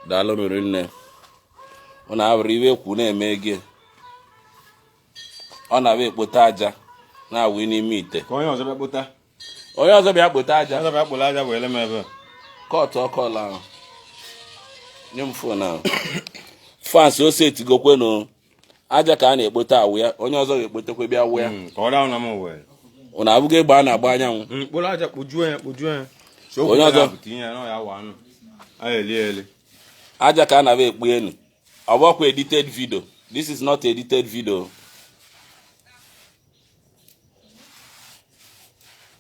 daalụ rinne ọ na-abụrụ ive ekwu na-eme gị ọ na-abụ ekpota aja na-awụ n'ime ite ka onye ọzọ bịa kpota onye ọzọ bịa kpota aja ọzọ bịa kpụrụ aja wee lem ebe a. kọtụọ call ahụ nye m fon ahụ fans o setigokwenụ aja ka a na-ekpota awụ ya onye ọzọ ga-ekpotekwa bịa awụ ya hmm, ọ na-abụghị egbe a na-agba anyanwụ hmm, onye ọzọ aja ka a na-abịa ekpu enu ọ bụkwa edited video this is not edited video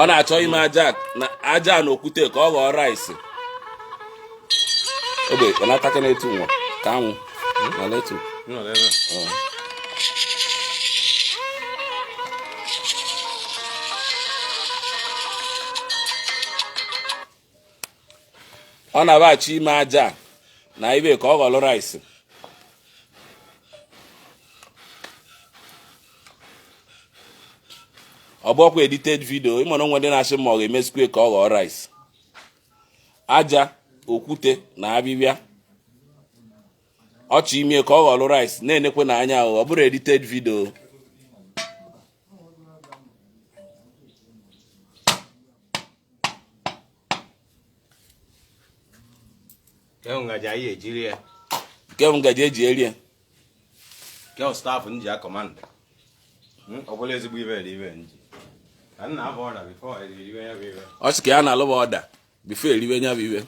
ọ na-achọ ime aja aja na okwute ka ọ ghọọ rice ogbe ọ na-ataka n'etu nwa ka anwụ na letu ọ na-abịa achọ ime aja na ive ka ọ ghọrọ rice ọ bụrọkwa edited vidio ị ma na o nwe ndị na-asị ma ọ ga-emezikwe ka ọ ghọọ rice aja okwute na avịvịa ọ chọ ime ka ọ ghọrọ rice na-enekwenụ anya ọ bụrọ edited vidio Kee ngaji anyị ji eri ya. Kee ngaji e ji eri ya. Kee staff m ji akọmanda. Hmm, ọ bụla ezigbo ive dị ive m ji. Ka nna abụ ọda bifo eriwe ya bụ ive. Ọ sị ka ya na-alụba ọda bifo eriwe ya bụ ive.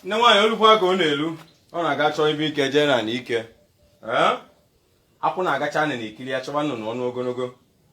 Nne nwaanyị o lukwa ka ọ na-elu ọ na-aga chọọ ibe ike jee na ike. Akwụ na-agacha na ikiri ya chọba nnụnụ ọnụ ogonogo.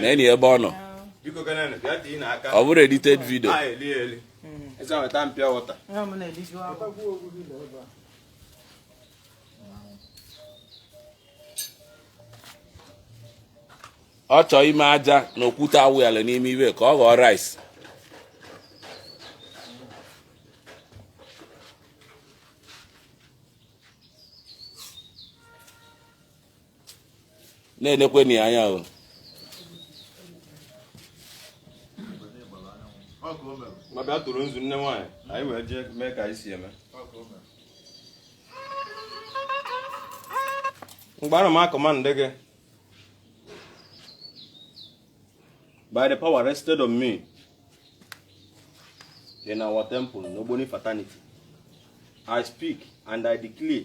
na-ene ya ebe ọ nọ ọ bụrọ edited video ọ chọọ ime aja na okwute awụyala n'ime ive ka ọ ghọọ rice na-enekwenụ ya anya o ma bịa tụrụ nzu nne nwaanyị anyị wee jee mee ka anyị si eme mgbe ana m akọmandị gị by the power rested on me in our temple n'ogboni fraternity i speak and i declare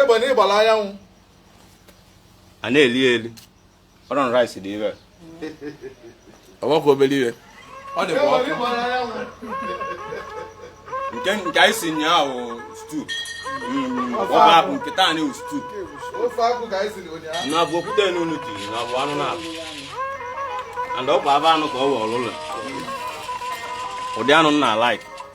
egbe na ịgbara anyanwụ a na-eli eli ọrọn rice dị ire ọgbakọ obere ihe ọ dị egbe na ịgbara anyanwụ nke nke anyị si nyaahụ stew ọba bụ nke taa anyị stew ofe akwụ ka anyị siri ụnyaahụ na bụ okwute n'unu ji na bụ anụ na-abụ and ọ bụ aba anụ ka ọ wee ọlụlụ ụdị anụ nna like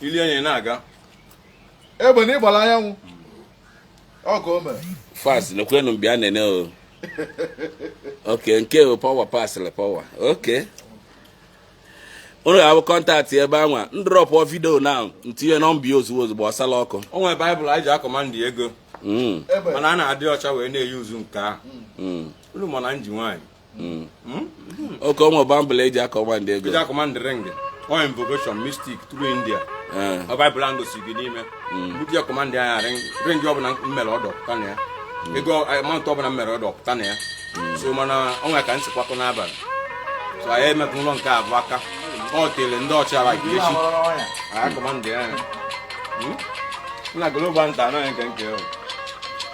ili enyi na-aga egbe na ịgbara anyanwụ ọ ka o mere fast nekwenu bịa nene o okay nke ọ power pasịrị power okay unu ga-ahụ contact ebe anwa m dropụọ video na m tinye nọmba ya ozugbo ozugbo ọsala ọkụ o nwere Bible e ji a-command ego Mm, egbe mana a na-adị ọcha wee na-eyi uzu nke ahụ mm. unu ma na m ji nwaanyị Hmm. Hmm? okay o nwere Bible e ji a-command ego e ji a-command ring ọ invocation mystic through india eh. ọ Bible ahụ gosiri gị n'ime hmm. mgbe ji a-command ya ring ring ọbụla m mere order pụta na ya ego amount ọbụla m mere order pụta na ya so mana ọ nwere ka m si kwakọ n'abalị so anyị emetụ ụlọ nke abụọ aka ọ tere ndị ọcha like echi a-command ya na global nta anaghị nke nke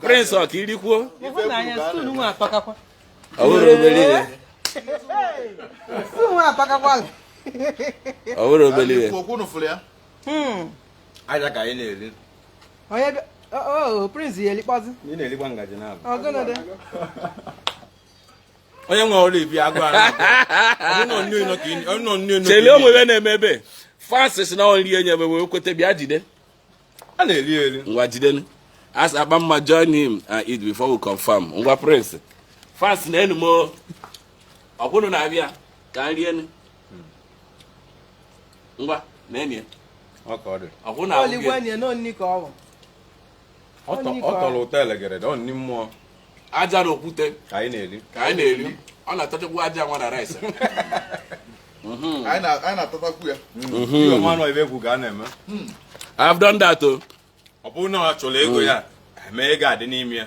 Prince ọ ka i rikwuo ọ wụrọ obere ihe ọ wụrọ obere ihe aja ka anyị na-eri onye prince ya elikpọzi ọgụnụ dị onye nwe ọrụ ibi agụ chele onwe ya na-eme ebe francis na nri enye ebe wee kweta bịa jide a na-eri eri ngwa jidenu as akpa mma join him and eat before we confirm ngwa prince francis na enu m ọkwụnụ na-abịa ka nri enu ngwa na enyi ọkwụnụ na-abịa ọ tọ- ọ tọrọ ụtọ elegere ọ nri mmụọ aja na okwute ka anyị na-eri ka anyị na-eri ọ na-atachakwa aja nwa na rice anyị na- anyị na-atatakwu ya ihe ọma nọ ebe egwu ga na-eme I've done that o ọ bụrụ na ọ chọrọ ego ya eme ego adị n'ime ya